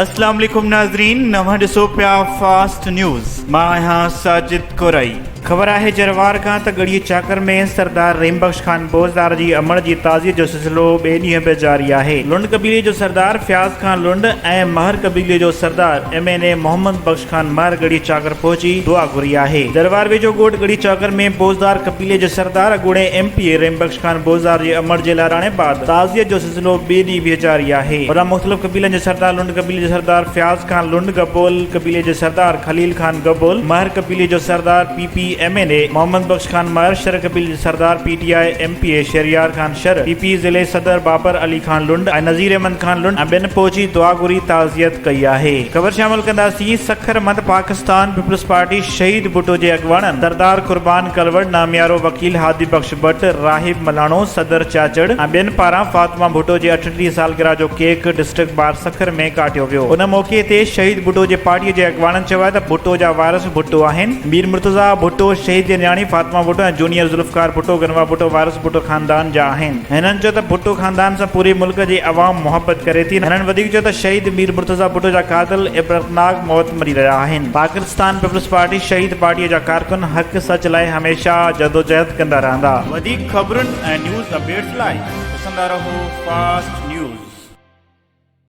السلام عليڪم ناظرين نوان ڏسو پيا فاسٽ نيوز مان آهيان ساجد ڪورائي خبر آهي جروار کان ته ڳڙهي چاڪر ۾ سردار رحيم بخش خان بوزدار جي امڙ جي تعزيت جو سلسلو ٻئي ڏينهن به جاري آهي. لنڊ قبيلي جو سردار فياض خان لنڊ ۽ مهر قبيلي جو سردار M N A Muhammad Bakhsh Khan Mahar Garhi Chakar پهچي دعا گهري آهي. جروار ويجهو ڳوٺ ڳڙهي چاڪر ۾ بوزدار قبيلي جي سردار اڳوڻي M P A Rahim Bakhsh Khan Bozdar جي امڙ جي لاڙاڻي بعد تعزيت جو سلسلو ٻئي ڏينهن به جاري آهي. هوڏانهن مختلف قبيلن جي سردار لنڊ قبيلي جو سردار فياض خان لنڊ، گبول قبيلي جو سردار خليل خان گبول، مهر قبيلي جو سردار P P, M N A, Muhammad Bakhsh Khan Mahar, Shar قبيلي جو سردار P T I, M P A, Shahryar Khan Shar, P P, ضلعي صدر بابر علي خان لنڊ ۽ نذير احمد خان لنڊ ۽ ٻين پهچي دعا گهري تعزيت ڪئي آهي. خبرشامل ڪنداسين سکر مند پاڪستان پيپلز پارٽي، شهيد ڀٽو جي اڳواڻن سردار قربان ڪلوڙ، ناميارو وڪيل هادي بخش ڀٽ، راهب ملاڻو، صدر چاچڙ ۽ ٻين پاران فاطمه ڀٽو جي اٺٽيهه سالگرهه جو ڪيڪ ڊسٽرڪٽ بار سکر ۾ ڪاٽيو ويو. ان موقعي تي شهيد ڀٽو جي پارٽي جي اڳواڻن چيو آهي ته ڀٽو جا وارث ڀٽو آهن، مير مرتضيٰ ڀٽو، شهيد جي نياڻي فاطمه ڀٽو ۽ جونيئر ذوالفقار ڀٽو، گنوا ڀٽو وارث ڀٽو خاندان جا آهن. هنن چيو ته ڀٽو خاندان سان پوري ملڪ جي عوام محبت ڪري ٿي. هنن وڌيڪ چيو ته شهيد مير مرتضيٰ ڀٽو جا قاتل عبرتناڪ موت مري رهيا آهن. پاڪستان پيپلز پارٽي شهيد پارٽيء جا ڪارڪن حق سچ لاء هميشه جدوجهد ڪندا رهندا. وڌيڪ خبرن ۽ نيوز اپڊيٽس لاء ڏسندا رهو فاسٽ نيوز.